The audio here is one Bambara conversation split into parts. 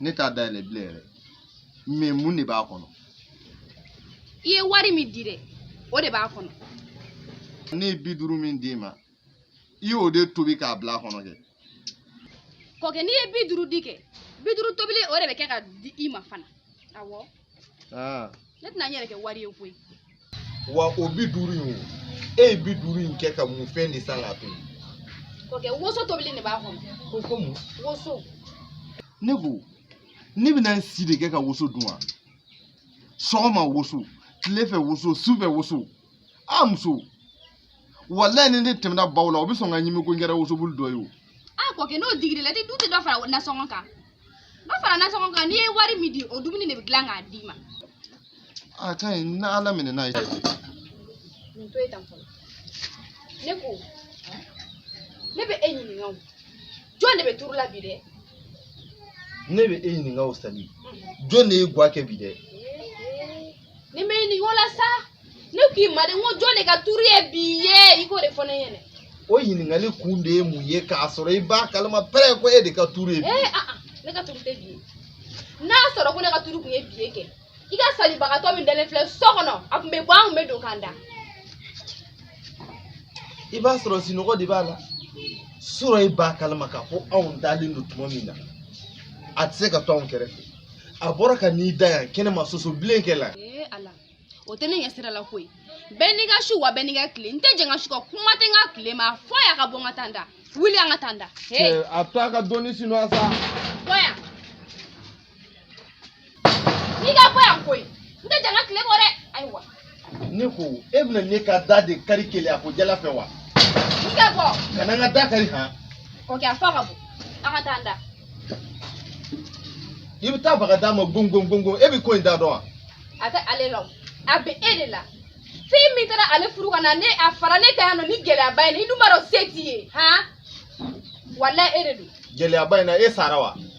ne t'a dayɛlɛ bilen yɛrɛ mais mun de b'a kɔnɔ i ye wari min di dɛ o de b'a kɔnɔ ne ye bi duuru min d'i ma i y'o de tobi k'a bila a kɔnɔ kɛ kɔkɛ n'i ye bi duuru di kɛ bi duuru tobilen o de bɛ kɛ ka di i ma fana awɔ Ah. Ne tɛna n yɛrɛ kɛ wari ye koyi. Wa o bi duuru in o, e ye bi duuru in kɛ ka mun fɛn de san k'a to yen? Kɔkɛ woso tobilen de b'a kɔnɔ. Ko ko mun? Woso. Ne ko, ne bɛna n si de kɛ ka woso dun wa? Sɔgɔma woso, tile fɛ woso, su fɛ woso. A muso. walayi ni ne tɛmɛna baw la o bɛ sɔn ka n ɲimi ko n kɛra wosobulu dɔ ye o. a kɔkɛ n'o digir'i la i tɛ dɔ i tɛ dɔ fara nasɔngɔ kan dɔ fara nasɔngɔ kan n'i ye wari min di o dumuni de bɛ dilan k'a d'i ma. a ka ɲi ni ala minɛ n'a ye. nin to ye tan fɔlɔ ne ko ne bɛ e ɲininka o jɔn de bɛ turu la bi dɛ. ne bɛ e ɲininka o Sali jɔn de ye gwa kɛ bi dɛ. n'i bɛ n ɲininka o la sa ne k'i ma de n ko jɔn de ka turu ye bi ye i k'o de fɔ ne ɲɛna o ɲininkali kun de ye mun ye k'a sɔrɔ i b'a kalama pɛrɛ ko e de ka turu ye bi ye aa ne ka turu tɛ bi ye n'a sɔrɔ ko ne ka turu tun ye bi ye kɛ i ka salabagatɔ min dalen filɛ so kɔnɔ a tun bɛ bɔ an tun bɛ don k'an da i b'a sɔrɔ sinɔgɔ de b'a la sɔrɔ i b'a kalama k'a fɔ anw dalen don tuma min na a tɛ se ka to anw kɛrɛfɛ a bɔra ka n'i da yan kɛnɛ ma soso bilen cɛ la ee ala o tɛ ne ɲɛ sira la koyi bɛɛ n'i ka su wa bɛɛ n'i ka tile n tɛ jɛn n ka su kɔ kuma tɛ n ka tile ma a fɔ a y'a ka bɔ n ka taa n da wuli an ka taa n da ee Cɛ, a to a ka dɔɔni sinɔgɔ sa bɔ yan n'i ka bɔ yan koyi n tɛ jɛn n ka tile kɔ dɛ ayiwa ne ko e bɛna ne ka da de kari keleya ko jalan fɛ wa i ka bɔ kana n ka da kari han kɔkɛ a fɔ ka bɔ an ka taa an da i bɛ taa baga da ma gongongongo e bɛ ko in da dɔn wa a tɛ ale la o a bɛ e de la fɛn min taara ale furu ka na a fara ne kan yan nɔ nin gɛlɛyaba in na i dun b'a dɔn se t'i ye han walayi e de don gɛlɛyaba in na e sara wa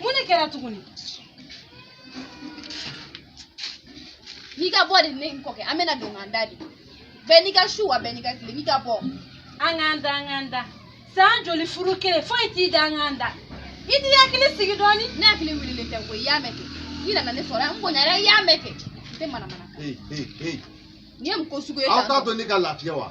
mun de kɛra tuguni n'i ka bɔ de ne ni kɔkɛ an bɛna don k'an da de bɛɛ n'i ka su wa bɛɛ n'i ka tile n'i ka bɔ an k'an da an k'an da san joli furu kɛlen foyi t'i da an k'an da i t'i hakili sigi dɔɔni ne hakili wililen tɛ koyi i y'a mɛn kɛ i nana ne sɔrɔ yan n bonyara i y'a mɛn kɛ n tɛ manamana kan Hey, hey, hey. nin ye mun ko sugu ye Aw t'a to ne ka lafiya wa?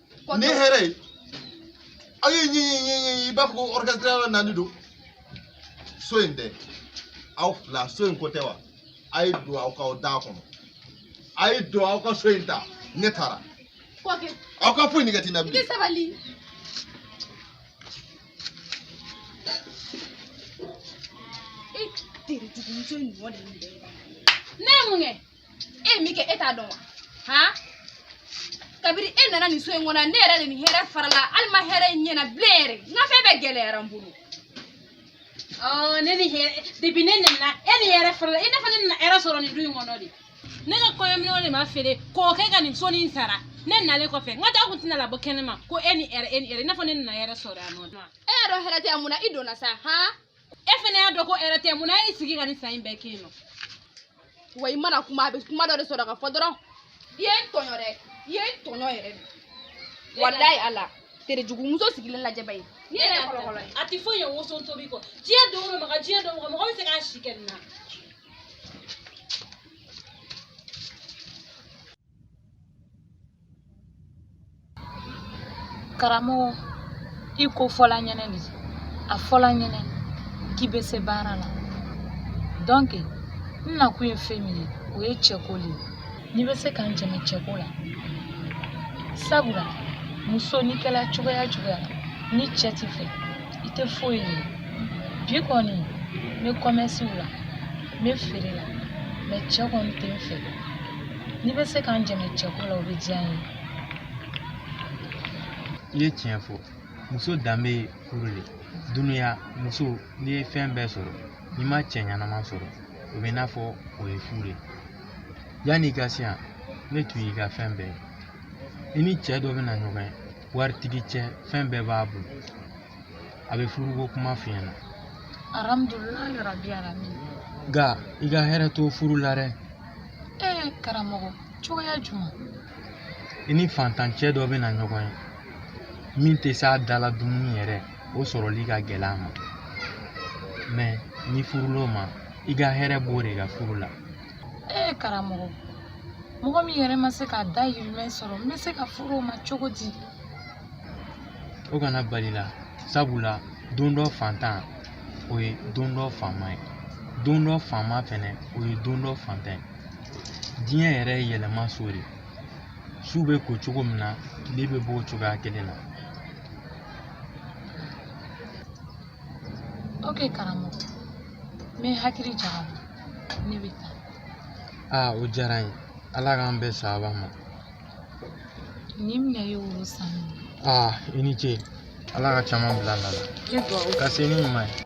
ne hɛrɛ ye aw ye ɲɛɲɛɲɛɲɛ i b'a fɔ ko orchestre nani don so in dɛ aw fila so in ko tɛ wa a ye don aw ka aw da kɔnɔ a ye don aw ka so in ta ne taara aw ka foyi nege tɛ n na bilen ne ye mun kɛ e ye min kɛ e t'a dɔn wa han kabiri e nana nin so in kɔnɔ ne yɛrɛ de ni hɛrɛ farala hali n ma hɛrɛ ye n ɲɛ na bilen yɛrɛ n ka fɛn bɛɛ gɛlɛyara n bolo ɔ ne ni hɛrɛ depuis ne nana e ni hɛrɛ farala i n'a fɔ ne nana hɛrɛ sɔrɔ nin du in kɔnɔ de ne ka kɔɲɔminɛnw de ma feere k'o kɛ ka nin so nin sara ne nalen kɔfɛ n ka taa kun tɛna labɔ kɛnɛma ko e ni hɛrɛ e ni hɛrɛ i n'a fɔ ne nana hɛrɛ sɔrɔ yan nɔ e y'a dɔn hɛrɛ tɛ yan mun na i donna sa han e fana y'a dɔn ko hɛrɛ tɛ mun na e y'i sigi ka nin san in bɛɛ kɛ yen nɔ wa i mana kuma a bɛ kuma dɔ de sɔrɔ k'a fɔ dɔrɔn i ye n tɔɲɔ dɛ i ye n tɔɲɔ yɛrɛ de walayi ala tere jugu muso sigilen lajɛ ba ye n'i yɛrɛ ye kɔlɔkɔlɔ ye a tɛ foyi ye woso tobi kɔ diɲɛ don o don maga diɲɛ don o don mɔgɔ bɛ se k'a si kɛ nin na karamɔgɔ i ko fɔla n ɲɛnɛ de a fɔla n ɲɛnɛ k'i bɛ se baara la donc n nakun ye fɛn min ye o ye cɛko le ye n'i bɛ se ka n dɛmɛ cɛko la sabula muso n'i kɛla cogoya cogoya la ni cɛ t'i fɛ i tɛ foyi ye bi kɔni n bɛ kɔmɛsiw la n bɛ feere la mais cɛ kɔni tɛ n fɛ N'i bɛ se ka n dɛmɛ cɛko la o bɛ diya n ye. I ye tiɲɛ fɔ muso danbe ye furu le dunuya muso n'i ye fɛn bɛɛ sɔrɔ n'i ma cɛ ɲɛnama sɔrɔ o bɛ i n'a fɔ o ye fu le ye yanni i ka se yan ne tun y'i ka fɛn bɛɛ ye i ni cɛ dɔ bɛna ɲɔgɔn ye waritigi cɛ fɛn bɛɛ b'a bolo a bɛ furuko kuma f'i ɲɛna alhamdulilayi rabi alamin nka i ka hɛrɛ t'o furu la dɛ ee karamɔgɔ cogoya jumɛn i ni fantancɛ dɔ bɛ na ɲɔgɔn ye min tɛ s'a dala dumuni yɛrɛ o sɔrɔli ka gɛlɛ a ma mais n'i furul'o ma i ka hɛrɛ b'o de ka furu la ee karamɔgɔ mɔgɔ min yɛrɛ ma se k'a dahirimɛ sɔrɔ n bɛ se ka furu o ma cogo di o kana bal'i la sabula don dɔ fantan o ye don dɔ faama ye don dɔ faama fɛnɛ o ye don dɔ fantan ye diɲɛ yɛrɛ ye yɛlɛma so de su bɛ ko cogo min na tile bɛ bɔ o cogoya kelen na ok karamɔgɔ n bɛ n hakili jagabɔ ne bɛ taa aa o diyara n ye ala k'an bɛn sababu ma Nin minɛ i ye woro san aa i ni ce ala ka caman bila a nɔ la ka se ni ɲuman ye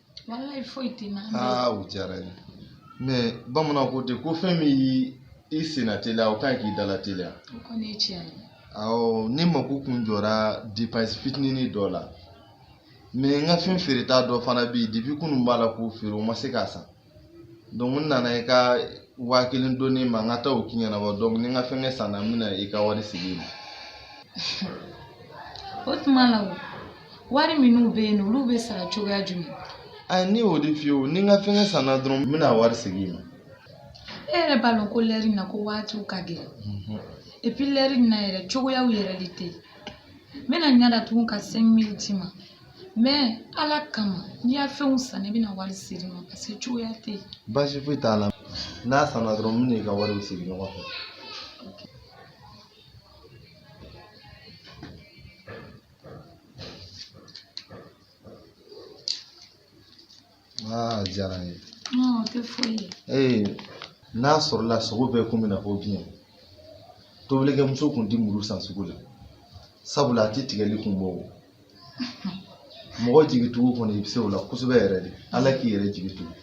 walayi foyi tɛ na. aa o diyara n ye mɛ bamananw ko ten ko fɛn min y'i senna teliya o ka ɲi k'i dala teliya. o kɔni ye tiɲɛ ye. awɔ ne mako kun jɔra depansi fitinini dɔ la mɛ n ka fɛn feereta dɔ fana bɛ yen depi kunun n b'a la k'o feere o ma se ka san donc n nana i ka waa kelen dɔnɔ n ma n ka taa o ko in ɲɛnabɔ donc ni n ka fɛnkɛ sanna n bɛna i ka wari segin i ma. o tuma la o. wari minnu b'e na olu bɛ sara cogoya jumɛn a ne y'o de f'i ye o ni n ka fɛngɛ sanna dɔrɔn n bɛna wari segin i ma e yɛrɛ b'a lɔn ko lɛri na ko waatiw ka gɛlɛn mhm. epi lɛri na yɛrɛ cogoyaw yɛrɛ de tɛ n bɛna n ɲa datugu ka cinq mille d'i ma mɛ ala kama n'i ya fɛnw sanna i bɛna wari segin n ma parce que cogoya tɛ yen baasi foyi t'a la n'a sanna dɔrɔn n bɛna i ka wariw segin ɲɔgɔn fɛ aa diyara n ye Non, o tɛ foyi ye. ee n'a sɔrɔla sogo bɛɛ kun b'i n'a fɔ biɲɛ tobilikɛmuso kun tɛ muru san sugu la sabula a tɛ tigɛli kun bɔ o mɔgɔ jigitugu kɔni i bɛ se o la kosɛbɛ yɛrɛ de ala k'i yɛrɛ jigi tugu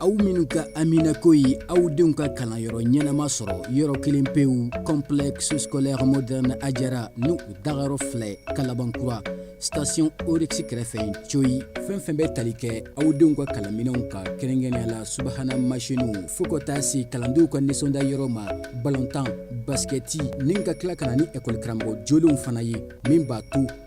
aw minnu ka haminako ye aw denw ka kalanyɔrɔ ɲɛnama sɔrɔ yɔrɔ kelen pewu complexe scolaire moderne ajara ni u dagayɔrɔ filɛ kalabankura station oryx kɛrɛfɛ coyi fɛn fɛn bɛ tali kɛ aw denw ka kalanminɛnw ka kɛrɛnkɛrɛnya la subahana masiniw fo ka taa se kalandenw ka nisɔndiya yɔrɔ ma balontan basikɛti ni ka tila ka na ni ɛkɔli karamɔgɔ jolenw fana ye min b'a to